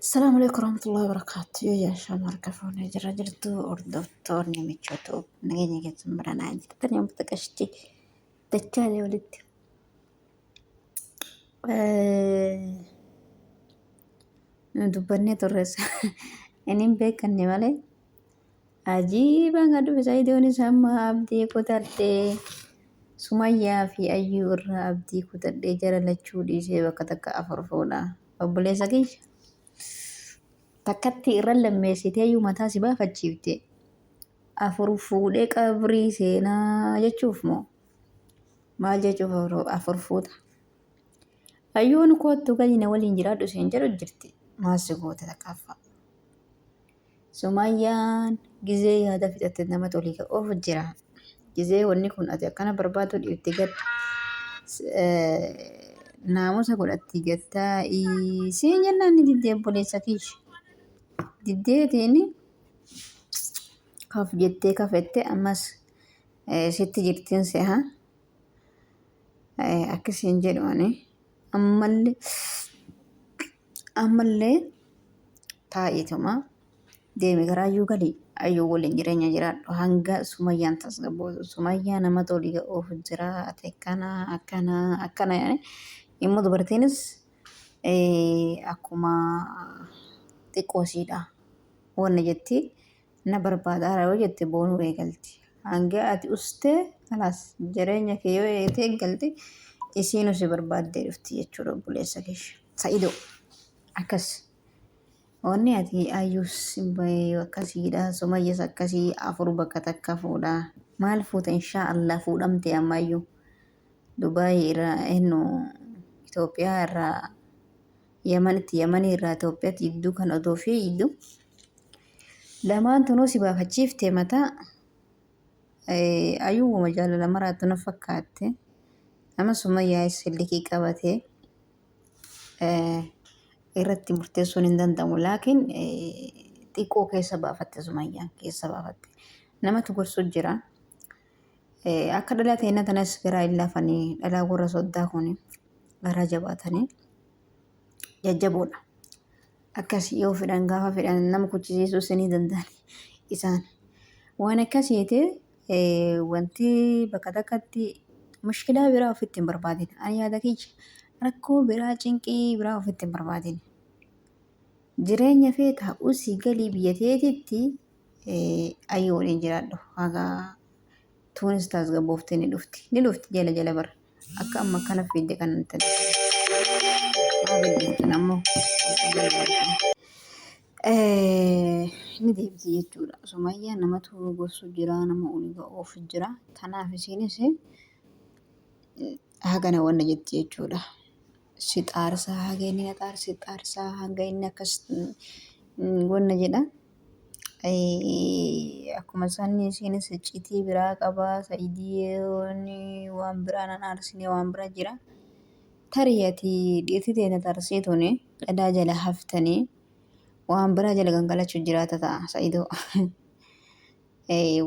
Assalamu alaikum warahmatullahi wabarakatuh. Yoo yaa shaama harka fuunee jira jirtu hordoftoonni michoota nageenya keessan baranaa jirtan yoo mutaqashti dachaalee walitti. Dubbannee turres inni hin beekanne malee Ajiiba nga dhufe Saidoonis amma abdii kutadhee Sumayyaa fi Ayyuu irraa abdii kutadhee jara lachuu dhiisee bakka takka afur fuudha. Obboleessa kiyya takkatti irra lammeessitee iyyuu mataa si baafachiifte afur fuudhee qabrii seenaa jechuuf moo maal jechuuf afur fuuta. Ayyuun koottu gadi na waliin jiraadhu seen jedhu jirti maal si goote takkaaffa. Sumayyaan gizee yaada fixatte nama toliika of jira. Gizee wanni kun ati akkana barbaaduu dhiifte gad naamusa godhatti gattaa isiin jennaan ni diddee obboleessa kiish. Diddeetiin kaf jettee kafette ammas sitti jirtiin seha. Akkasiin jedhu ani. ammalle ammalle taa'eetuma deeme garaa ayyuu gali ayyuu waliin jireenya jiraadhu hanga sumayyaan tasgabbootu sumayyaa nama tolii ga'uuf jira ati akkana akkana akkana jedhanii immoo dubartiinis eh, akkuma xiqqoo ishiidha wanna jetti na barbaadaara yoo jette boonuu eegalti. Hanga ati ustee kalaas jireenya kee yoo eegate eegalte isiinu si barbaaddee dhufti jechuudha obboleessa keesh. Sa'ido akkas wanni ati ayyuus bayee akkasiidha sumayyas akkasii afur bakka takka fuudha maal fuuta inshaa Allah fuudhamte amma ayyuu Dubaayii irraa ennu Itoophiyaa irraa Yamanitti Yamanii irraa Itoophiyaatti idduu kan odoo fi idduu Lamaan tunuu si baafachiifte mataa ayuuma jaalala maraattu na fakkaatte. Amma summayyaayis sillikii qabatee irratti murteessuun hin danda'amu. Laakiin xiqqoo keessa baafatte sumayyaan keessa baafatte. Namatu gorsu jira. Akka dhalaa teenya tanas garaa hin laafanii dhalaa warra soddaa kun garaa jabaatanii jajjaboodha. akkasii yoo fedhan gaafa fedhan nama kuchisiisuu isinii danda'an isaan. Waan akkasiiti wanti bakka takkatti mushkilaa biraa ofitti hin barbaadin. Ani yaada kiyya rakkoo biraa cinqii biraa ofitti hin barbaadin. Jireenya feetaa usii galii biyya teetitti ayyoo waliin jiraadhu haga Tunis tasgabooftee ni dhufti. Ni dhufti jala jala bar. Akka amma kana fiidde kana hin tane. Maa bilbiltan ammoo? Eh, Ni deebiti jechuudha. Sumayyaa namatu gorsu jira, nama ol ga'uuf jira. Kanaaf isiinis hagana wanna jetti jechuudha. si xaarsaa haga inni na xaarsa si xaarsaa hanga inni akkas gonna jedha. Akkuma isaanii isheenis iccitii biraa qabaa sa'idiyoon waan biraa nan aarsine waan biraa jira. Tarii ati dhiirti ta'e na xaarsee tuni dhadaa jala haftanii waan biraa jala gangalachuu jiraata ta'a sa'idoo.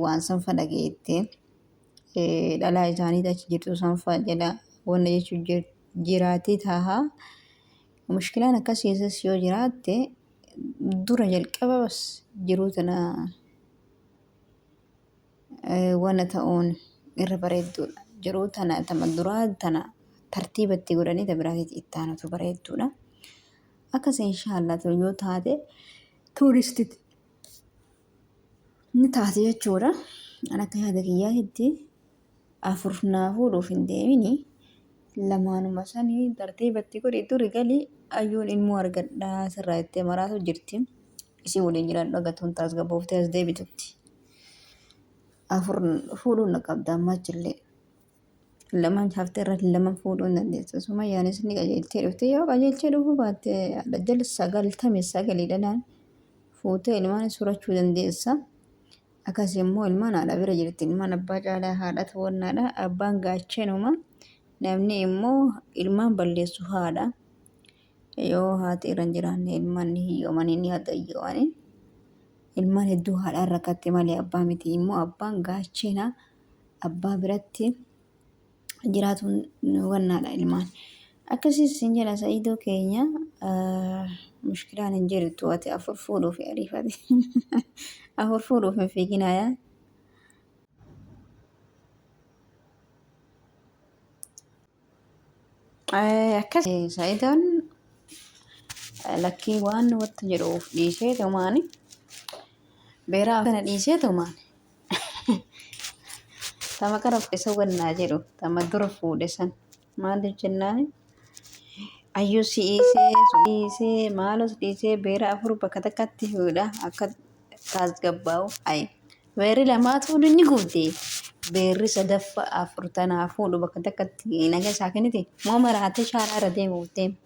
Waan sanfa dhageette dhalaa isaanii achi jirtu sanfa jala wanna jechuu jirti. jiraatee taaha. Mushkilaan akkas keessas yoo jiraatte dura jalqaba bas jiruu tana wana ta'uun irra bareedduudha. Jiruu tana tama duraa tana tartiiba itti godhanii ta biraatitti itti aanutu bareedduudha. Akkas inshaallah yoo taate tuuristitti ni taate jechuudha. An akka yaada kiyyaatitti afur naa fuudhuuf hin deemini. Lamaanuma sanii tartiibatti godhi duri gali ayyuun ilmoo argadhaa sirraa itti maraatu jirti. Isii waliin jiraadhu agatuun tasgabbooftee as deebitutti. Afur fuudhuun na qabda ammachillee. lamaan hafte irra lama fuudhuu hin dandeessu. Sumayyaanis ni qajeelchee dhufte yoo qajeelchee dhufuu baatte dajjal sagaltame sagalii dhalaan fuutee ilmaan surachuu dandeessa. Akkas immoo ilmaan haadha bira jirti ilmaan abbaa caalaa haadhatu wannaadha abbaan gaachenuma namni immoo ilmaan balleessu haadha. Yoo haati irra hin jiraanne ilmaan ni hiyyoomanii ni hagayyoomanii. Ilmaan hedduu haadhaan rakkatte malee abbaa miti immoo abbaan gaachena abbaa biratti jiraatuun wannaadha ilmaan. Akkasiis sin jedha sa'idoo keenya mushkilaan hin jirtu ati afur fuudhuuf ariifate afur fuudhuuf hin fiiginaayaa. Akkas sa'idoon lakkii waan watti jedhuuf dhiisee tumaani beeraa kana dhiisee tumaani. Tama kana isa wannaa jedhu tama dura fuudhe san maaliif jennaan ayyuu si dhiisee si dhiisee maaloo si dhiisee beera afur bakka takkatti fuudha akka taasgabbaa'u ayi beerri lamaatu inni gubde beerri sadaffa afur tanaa fuudhu bakka takkatti naga isaa kennite moo maraatee shaaraa irra deemuuf deema.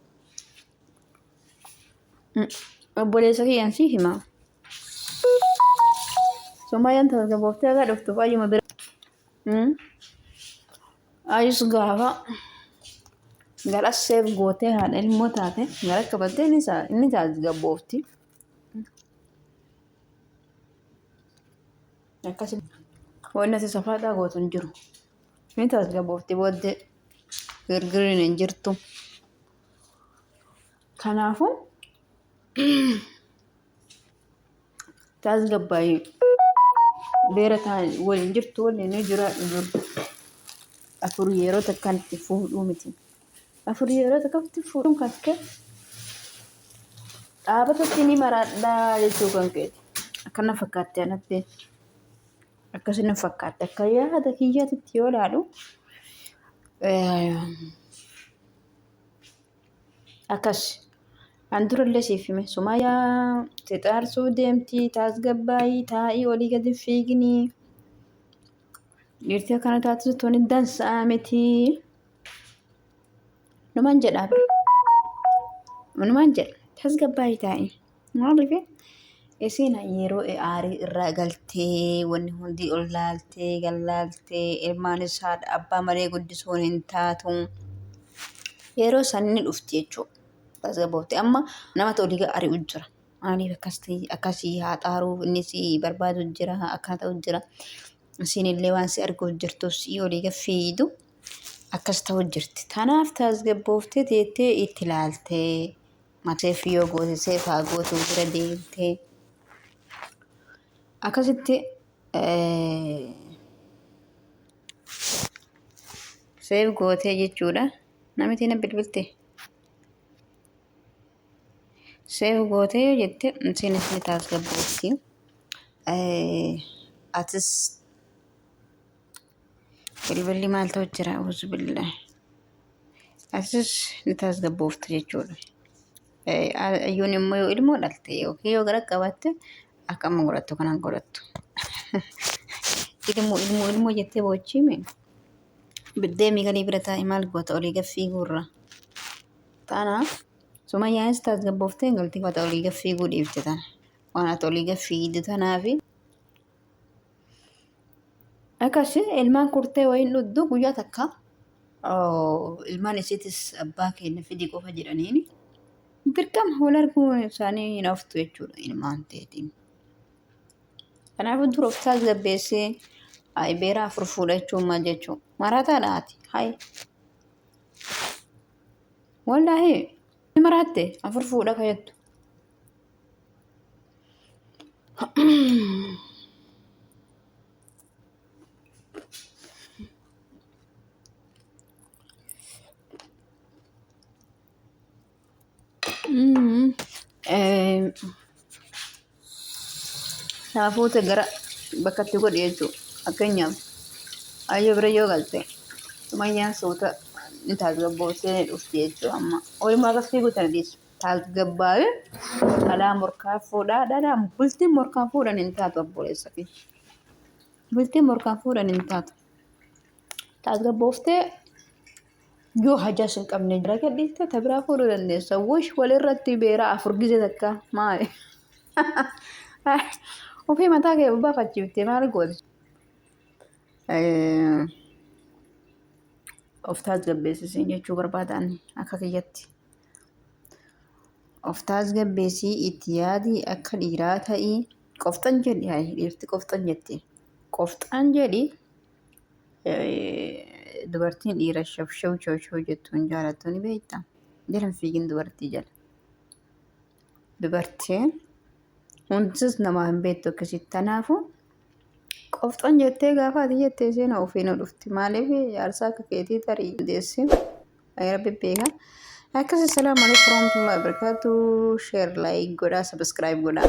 Obboleessa kiyyaan siif hima. Sumayyaan tasgabbooftee akka dhuftuuf ayyuma bira. Ayus gaafa gara seef gootee haadha ilmoo taate gara qabattee inni tasgabboofti. Akkasuma wanni ati safaaxaa gootu hin jiru. Inni tasgabboofti booddee girgiriin hin jirtu. Kanaafuu tasgabbaa'ii beera ta'an waliin jirtu waliin jiraadhu dur. Afur yeroo takkaan itti fuudhuu miti. Afur yeroo takkaan itti fuudhuun kan kee dhaabata itti ni maraadhaa jechuu kan keeti. Akkana fakkaatti anatti. Akkasina fakkaatti akka yaada kiyyaatitti yoo ilaalu. Akkas. An durallee siif hime sumayaa xixaarsuu deemtii taasgabbaayii taa'ii olii gadi fiiginii dhiirtii akkana taatu tuni dansa'a miti. Numan jedhaa numan jedha taasgabbaayii taa'ii. Maaliif isiin yeroo aarii irraa galtee wanni hundi ol laaltee gad laaltee ilmaanis haadha abbaa malee guddisuun hin taatu. Yeroo san ni dhufti jechuudha. Tasgabboofte amma namatu olii gad ari'u jira. Maaliif akkas ta'e akkasii haa xaaruu inni si barbaadu jira akkaa ta'u jira. Isiin illee waan si arguuf jirtuuf si olii gad fiidu akkas ta'u jirti. Tanaaf tasgabbooftee teettee itti laaltee. Maseef yoo goote seef haa gootu bira deemtee akkasitti seef gootee jechuudha namitii na bilbilte seef gootee yoo jette isiinis ni taasgabboofti atis Bilbilli maal ta'u jira? Uzu billah. Asis ni tasgabbooftu jechuudha. Ayyuun immoo yoo ilmoo dhalte yookiin yoo gara qabaatte akka amma godhattu kanaan godhattu. Ilmoo ilmoo ilmoo jettee boochiime. Biddeemii galii bira taa'e maal goota olii gaffii guurra. Tanaaf sumayyaanis tasgabbooftee galtii fata olii gaffii guudhiifte tana. Waan ati olii gaffii iddu tanaafi. Akkasii ilmaan kurtee wayiin dhuddu guyyaa takka ilmaan isiitis abbaa keenya fidii qofa jedhaniin dirqama wal arguu isaanii hin haftu jechuudha ilmaan teetiin. Kanaafuu dura of tasgabbeessee beeraa afur fuudha jechuun maal jechuudha? Marataa dhaati. Hayi. Wallaahi ni maraatte afur fuudha kayattu. Saafuuta gara bakkatti godhi jechuudha. Fakkeenyaaf ayyoo bira yoo galte sumayyaan suuta ni taasisa boossee ni dhufti jechuudha amma. Oolmaa akka fiiguu tana dhiisu. Tasgabbaa'ee dhalaa morkaan fuudhaa dhalaan bultiin morkaan fuudhan hin taatu obboleessa fi bultiin morkaan fuudhan hin taatu. Tasgabbooftee yoo hajaas hin qabne jira gadhiiftee ta biraa fuudhuu dandeessa. Wush walirratti beera afur gize takka maali? Ofii mataa kee baafachiiftee maal gooti? Of tasgabbeessisiin jechuu barbaadaan akka kiyyatti. Of taasgabbeessii itti yaadi akka dhiiraa ta'i. Qofxan jedhi hayi dhiirti qofxan jetti. Qofxaan jedhi dubartiin dhiira shabshab shawshoo jettuun jaalattu ni beekta. Jala hin fiigin dubartii jala. Dubartiin hundis namaa hin beektu akkasitti tanaafu qofxan jettee gaafa ati jettee seenaa ofii nu dhufti. Maaliif jaarsaa akka keetii tarii deessi. Rabbi beeka. Akkasuma salaamu alaikum warahmatullahi wabarakatuh. Share like godhaa subscribe godhaa.